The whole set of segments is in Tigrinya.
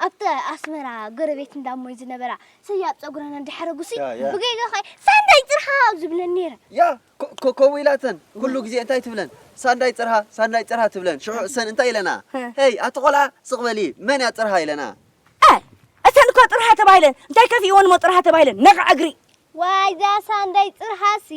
ኣብቲ ኣስመራ ጎረቤት እንዳ እሞይ ዝነበራ ሰያብ ጸጉረን እንዳሕረጉሲ ያ፣ ያ። ብጌጋ ኸ ሳንዳይ ጽርሃ ኣብ ዝብለን ነይረን ያ ኮ- ኮ- ከምኡ ኢላተን ኩሉ ግዜ እንታይ ትብለን ሳንዳይ ጽርሃ ሳንዳይ ጽርሃ ትብለን ሽዑ እሰን እንታይ ኢለና እ። ሄይ ኣቲ ቆልዓ ስቕ በሊ መን እያ ጽርሃ ኢለና ኣይ እተን እኮ ጥርሃ ተባሂለን እንታይ ከፊእወን እሞ ጥርሃ ተባሂለን ነቕዐ እግሪ ዋይ ዛሳ እንዳይ ጽርሃሲ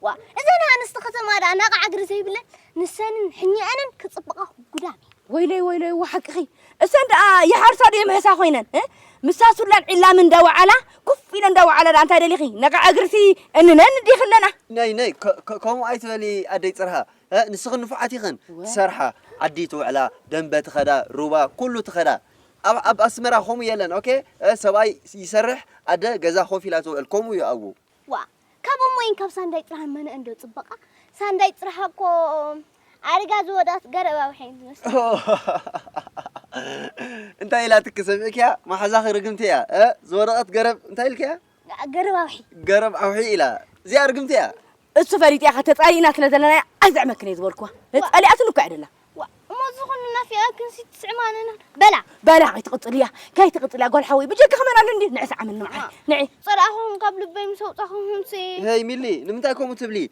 ዋ እዘን ኣንስቲ ከተማ ደኣ ናቕዓ እግሪ ዘይብለን ንሰንን ሕኛኣንን ክጽብቓ ጉዳም እዩ። ወይለይ ወይለይ እወ ሓቅኺ እሰን ደኣ ይሓርሳ ድየ ምሕሳ ኮይነን እ? ምሳ ሱላን ዒላምን እንዳወዓላ ኩፍ ኢለን እንዳወዓላ ደኣ እንታይ ደሊኺ ነቓዕ እግርሲ እንነን ዲኺ ኣለና። ነይ ነይ ከ- ከ- ከምኡ ኣይትበሊ ኣደይ ጽርሃ እ፣ ንስኽን ንፉዓት ኢኽን ትሰርሓ ዓዲ ትውዕላ ደንበ ትኸዳ ሩባ ኩሉ ትኸዳ ኣብ ኣብ ኣስመራ ከምኡ የለን ኦኬ ሰብኣይ ይሰርሕ ኣደ ገዛ ኮፍ ኢላ ትውዕል ከምኡ እዩ ኣቡ። ዋእ ካብ እሞይን ካብ ሳንዳይ ጥራህን መነኣን ዶ ጽበቃ ሳንዳይ ጥራሃ እኮ ኣሪጋ ዝወደኣት ገረብ ኣውሐይን ትመስል። እንታይ ኢላትኪ ሰሚዕክያ ማሓዛኺ ርግምቲ እያ ዝወደቀት ገረብ እንታይ ኢልክያ። ገረብ ኣውሒ ገረብ ኣውሒ ኢላ እዚኣ ርግምቲ እያ። እሱ ፈሊጠ ኢኻ ተጻሊእና ስለ ዘለናያ ኣይዝዕመክን እየ ዝበልኩዋ ተጻሊኣትኒ እኮ ኣይደላን። እሞ ዝኾነ ናፊቓክንሲ ትስዕማንና በላ በላ ከይትቕጽልያ ከይትቕጽልያ ጓል ሓወይ ብጀካኺ መን ኣሎ እንዲ ንዒ ሰዓምኒ መዓረይ ንዒ። ጸላእኹም ካብ ልበይ ምስ ኣውጻኹምሲ። ሄይ ሚሊ ንምንታይ ከምኡ ትብሊ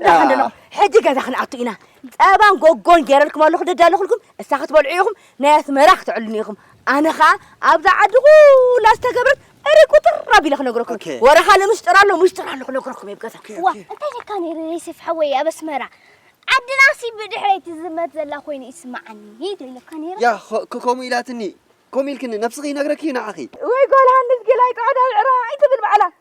እንዳ ክንደለኹ ሕጂ ገዛ ክንኣቱ ኢና ጸባን ጎጎን ገይረልኩም ኣለኹ ደዳለኹልኩም እሳ ክትበልዑ ኢኹም ናይ ኣስመራ ክትዕሉኒ ኢኹም ኣነ ኸኣ ኣብዛ ዓዲ ኩላ ዝተገብረት እሪ ቁጥር ኣቢለ ክነግረኩም ወረኻ ንምስጥር ኣሎ ምስጥር ኣሎ ክነግረኩም እየ ገዛ ዋ እንታይ ለካ ነይሩ ዩስፍ ሓወይ ኣብ ኣስመራ ዓድናሲ ብድሕረይ ትዝመት ዘላ ኮይኑ ይስማዓኒ ሂዶ ኢለካ ነይሩ ያ ከምኡ ኢላትኒ ከምኡ ኢልክኒ ነብስኺ ይነግረኪ እዩ ንዓኺ ወይ ጓል ሃንስ ገላይ ጻዕዳ ዕራ ኣይትብል ባዕላ